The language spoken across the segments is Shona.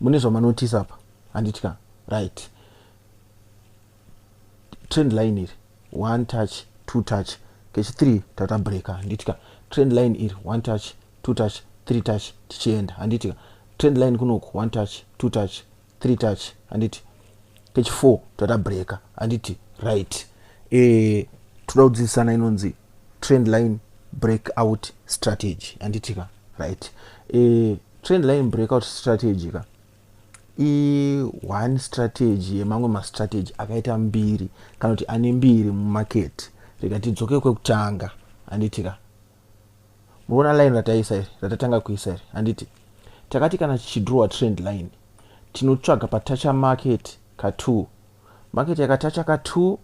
mune zvamanotisa apa handitya right trend line iri one touch two touch kechi three tata breaker handitya trend line iri one touch two touch three touch tichienda handitya trend line kunoku one touch two touch three touch handiti kechi four tata breaker handiti right e, eh, toda kudzidzisana inonzi trend line breakout strategy anditi ka right e, trend line breakout strategy ka i one strategy yemamwe mastrategy akaita mbiri kana kuti ane mbiri mumaketi rega tidzoke kwekutanga anditi ka muona line rataisa iri ratatanga kuisa iri anditi takati kana tichidrowa trend line tinotsvaga patacha market ka2 market yakatacha ka2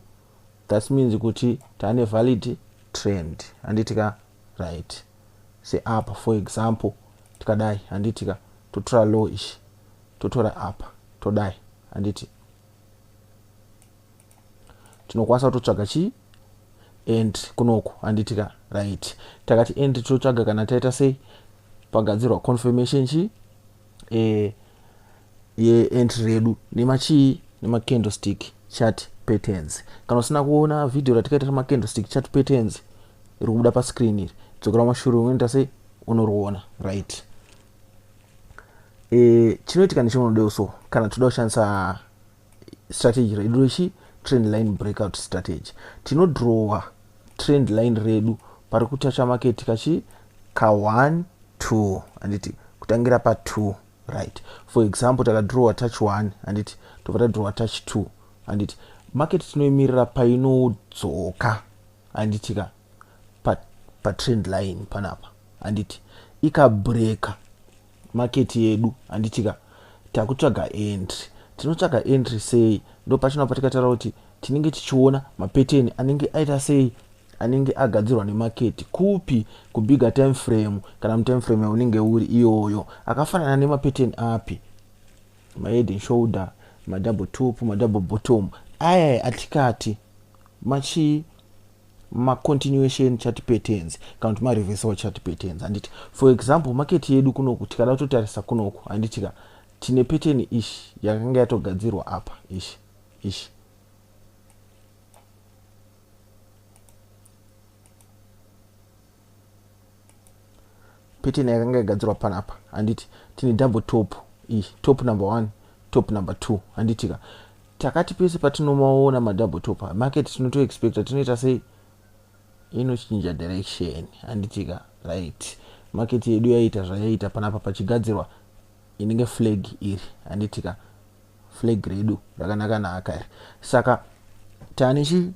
That means kuti tane valid trend handiti ka right seapa for example tikadai handiti ka totora low ichi totora apa todai handiti tinokwanisa kutotsvaga chii end kunoku handiti ka right takati end tinotsvaga kana taita sei pagadzirwa confirmation chii e, yeentry redu nemachii nemacandlestick chat patterns kana usina kuona video ratikaita remacandlestick chat patterns iri kubuda pascreen iri dzokera mashure unoita sei unoriona right e, chinoitika necheunodewo so kana toda kushandisa strategy redu rechi trend line breakout strategy tinodrowa trend line redu pari kuchacha maketi kachi ka 1 2 handiti kutangira pa 2 right for example takadrowa touch 1 handiti tobva tadrowa touch 2 handiti maketi tinoimirira painodzoka handiti ka patrend pa line panapa handiti ikabreaka market yedu handitika takutsvaga entry tinotsvaga entry sei ndo pachinobva tikataura kuti tinenge tichiona mapeteni anenge aita sei anenge agadzirwa nemaketi kupi kubigge time frame kana mutime frame yaunenge uri iyoyo akafanana nemapeteni api mahead and shoulder madouble top madouble bottom aya atikati machii macontinuation chart patterns kana kuti mareversal chart patterns handiti for example market yedu kunoku tikada kutotarisa kunoku handitika tine pattern ishi yakanga yatogadzirwa apa ishi ishi pattern yakanga yagadzirwa panapa handiti tine double top iyi top number one top number two handitika takati pese patinomaona madouble topa market tinotoexpecta tinoita sei inochinja direction handitika right market yedu yaita zvayaita panapa pachigadzirwa inenge flag iri handitika flag redu rakanaka naaka iri saka tane chi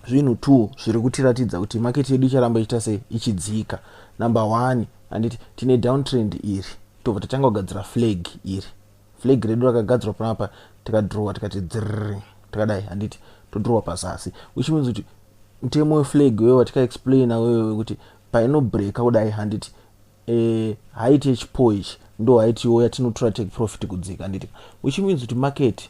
zvinhu two zviri kutiratidza kuti market yedu icharamba ichiita sei ichidzika number one handiti tine downtrend iri tobva tatanga kugadzira flag iri flag redu rakagadzirwa panapa tikadhirowa tikati dzirri takadai handiti todhirowa pazasi which means kuti mutemo weflag wewa tikaexplaina wewe wekuti painobreaka kudai handiti eh, haiti yechipo ichi ndo haitiwo yatinotora take profit kudzika handiti which means kuti market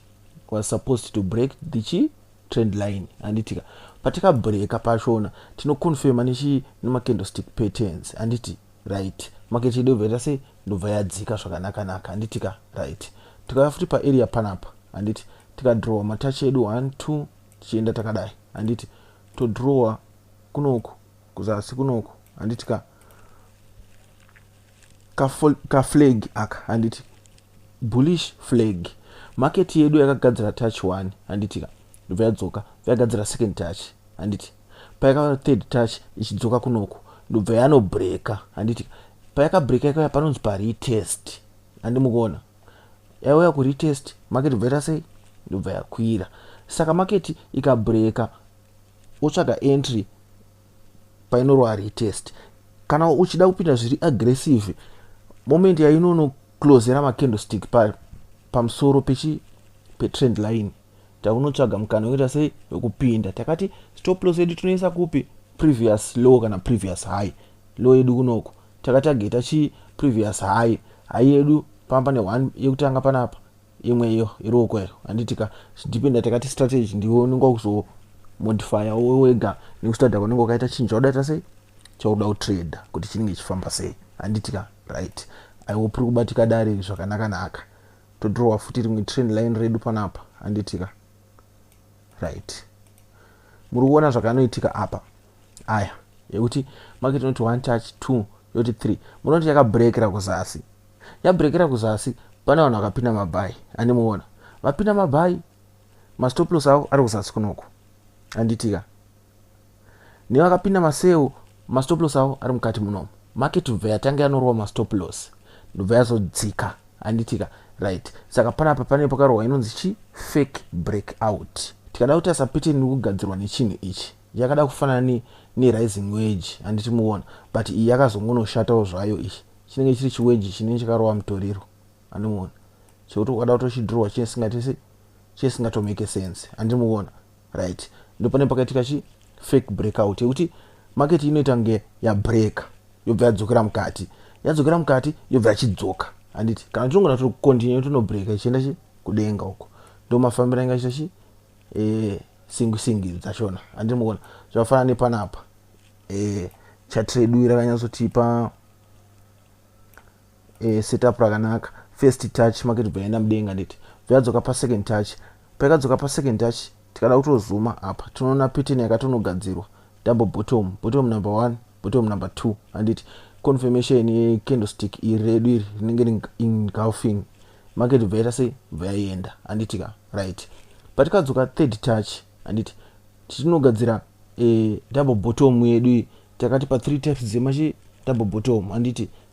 was supposed to break the chi trend line handitika patikabreaka pachona tinoconfirma nechi nemacandlestick patterns handiti right market yedu yobvaita se ndobva yadzika zvakanaka naka handiti ka right tikauya futi paarea panapa handiti tikadrowa matachi edu one two tichienda takadai handiti todrowa kunoku kuzasi kunoku handiti ka kaflag ka aka handiti bullish flag market yedu yakagadzira touch one handiti ka ndobva yadzoka yagadzira second touch handiti payakava third touch ichidzoka kunoku ndobva yanobreaker handiti payakabreaker ikaya panonzi paretest handi mukuona yauya kuretest maketi bva ita sei ndobva yakwira saka maketi ikabreaker wotsvaga entry painorova retest kana uchida kupinda zviri aggressive moment yainonoclosera macandlestick pamusoro pechi petrend line takunotsvaga mukana wekuita sei wekupinda takati stop loss yedu tinoisa kupi previous low kana previous high low yedu kunoku takatageta chii previous high high yedu pamba ne one yekutanga panapa imwe iyo iruoko iyo handitika dependa takati strategy ndiwe unenge wakuzomodifya wo wega nekustada kwanenge wakaita chinhu chaudaita sei chauda kutrader kuti chinenge chifamba sei handitika right aiwo piri kubatika dare zvakanaka naka todrowa futi rimwe trend line redu panapa anditika right muri kuona zvakanoitika apa aya yekuti market inoti one touch two yoti three munoti yakabrekera kuzasi yabrekera kuzasi pane vanhu vakapinda mabhayi andimuona vapinda mabhayi mastoplos avo ari kuzasi kunoko anditika nevakapinda maseu mastop loss avo ari mukati munomu market ndobva yatange yanorova mastop loss ndobva yazodzika anditika right saka panapa pane pakarohwa inonzi chi fake break out tikada kuti asapeteni nekugadzirwa nechinhu ichi yakada kufanana nerising wage handiti muona but iyi yakazongonoshatawo zvayo ichi chinenge chiri chiwage chinenge chakarova mutoriro andimuona chekuti ukada kutochidhurwa chine singatese chine singatomeke sense handiti muona right ndopane pakaitika chi fake breakout yekuti market inoita kunge yabreaka yobva yadzokera mukati yadzokera mukati yobva yachidzoka handiti kana tinongona tiri kucontinue tinobreaka ichienda chi kudenga uko ndomafambira inga chita chi e, singi singi dzachona handiti mukona zvakafanana nepanapa e, chatredu irakanyatsotipa eh, setup rakanaka first touch make tibva yaenda mudenga nditi bvayadzoka pasecond touch paikadzoka pasecond touch tikada kutozuma apa tinoona pattern yakatonogadzirwa double bottom bottom number one bottom number two handiti confirmation yecandlestick iri redu iri rinenge reengulfing market bva yaita sei bva yaienda handiti ka right patikadzoka third touch handiti titinogadzira e, double bottom yedu iyi takati pa three types dzemachi double bottom handiti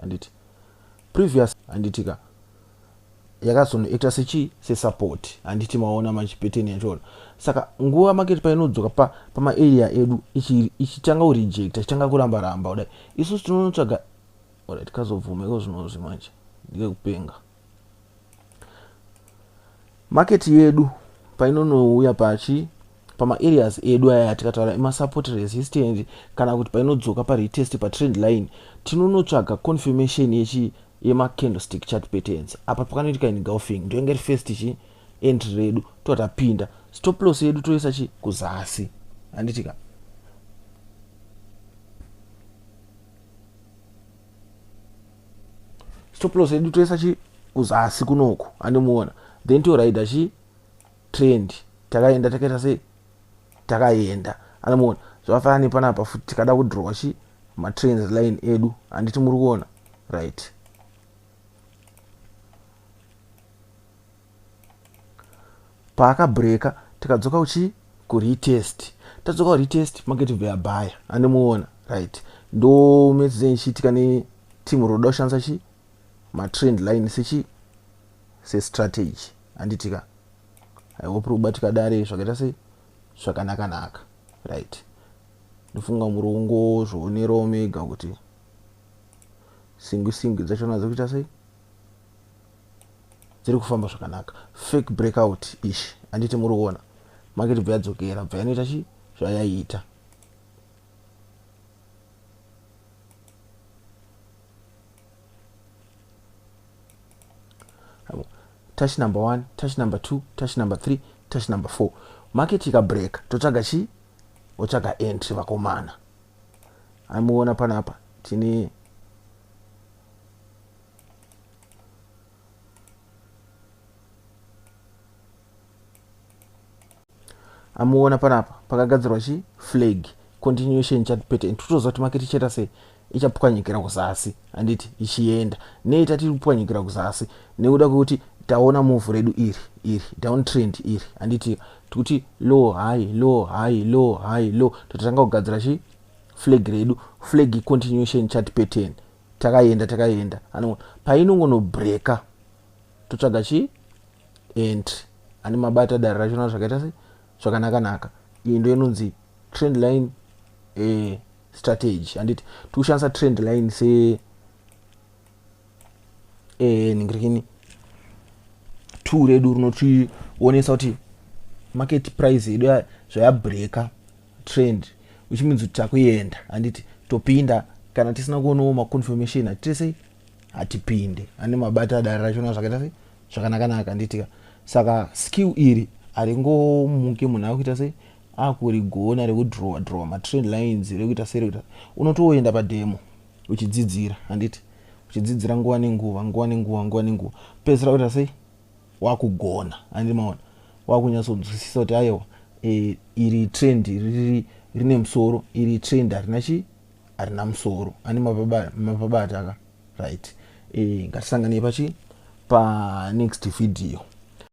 handiti previous handiti ka yakazonoacta sechii sesupport handiti maona manje pattern yachona saka nguva market painodzoka pa, pamaarea edu ichitanga kurejecta ichitanga kuramba ramba kudai isusu tinonotsvaga orit kazobvuma iko zvinozvi manje ndikekupenga market yedu painonouya pachi pamaareas edu aya atikataura emasupport resistance kana kuti painodzoka paretest patrend line tinonotsvaga confirmation yechi yemacandlestick chart patterns apa pakanoitika engulfing ndoinge ri first chi entry redu toa tapinda stop loss yedu toisa chi kuzasi handitika stop loss yedu toisa chi kuzasi kunoku andimuona then toraida chi trend takaenda takaita sei takaenda andimuona zvakafanana nepanapa futi tikada kudrowa chi matrends line edu handiti muri kuona right paakabreaker tikadzoka kuchii kuretest tadzoka kuretest market bva yabhaya andimuona right ndo medzei ichiitika neteam roda kushandisa chii matrend line sechii sestrategy handitika i hope rikubatika dare zvakaita sei zvakanakanaka right ndofunga murongo zvoonerawo mega kuti singwi singwi dzacho nadzo kuita sei dziri kufamba zvakanaka fake breakout ish anditi muri kuona market bva yadzokera bva yanoita chi zvayaiita touch number one touch number two touch number three touch number four market ikabreaka totsvaga chi otsvaga entry vakomana amuona panapa tine amuona panapa pakagadzirwa chi flag continuation chat pattern totoziva kuti maketi ichaita sei ichapwanyikira kuzasi handiti ichienda nei tati kupwanyikira kuzasi nekuda kwekuti taona muvhu redu iri iri down trend iri handiti tikuti low high low high low high low tototanga kugadzira chi flag redu flag continuation chat pattern takaenda takaenda ano painongonobreaker totsvaga chii entry ane mabata dare racho na zvakaita se zvakanaka naka iyi ndo inonzi trend line e, strategy handiti tikushandisa trend line se e, ningirikini two redu rinotionesa kuti market price yedu zvayabreaker trend uchimunzi kuti takuenda handiti topinda kana tisina kuonawo maconfirmation hatite sei hatipinde ane mabata dare rachona zvakaita sei zvakanakanaka handitika saka skill iri haringomuke munhu akuita sei akurigona rekudrowa drowa matrend lines rekuita sei rekuita unotoenda pademo uchidzidzira handiti uchidzidzira nguva nenguva nguva nenguva nguva nenguva pedzisira kuita sei wakugona andi maona wakunyatsonzwisisa kuti ayewa e, iri trend riri rine musoro iri trend harina chi harina musoro ani mapabata ka right e, ngatisanganei pachi panext video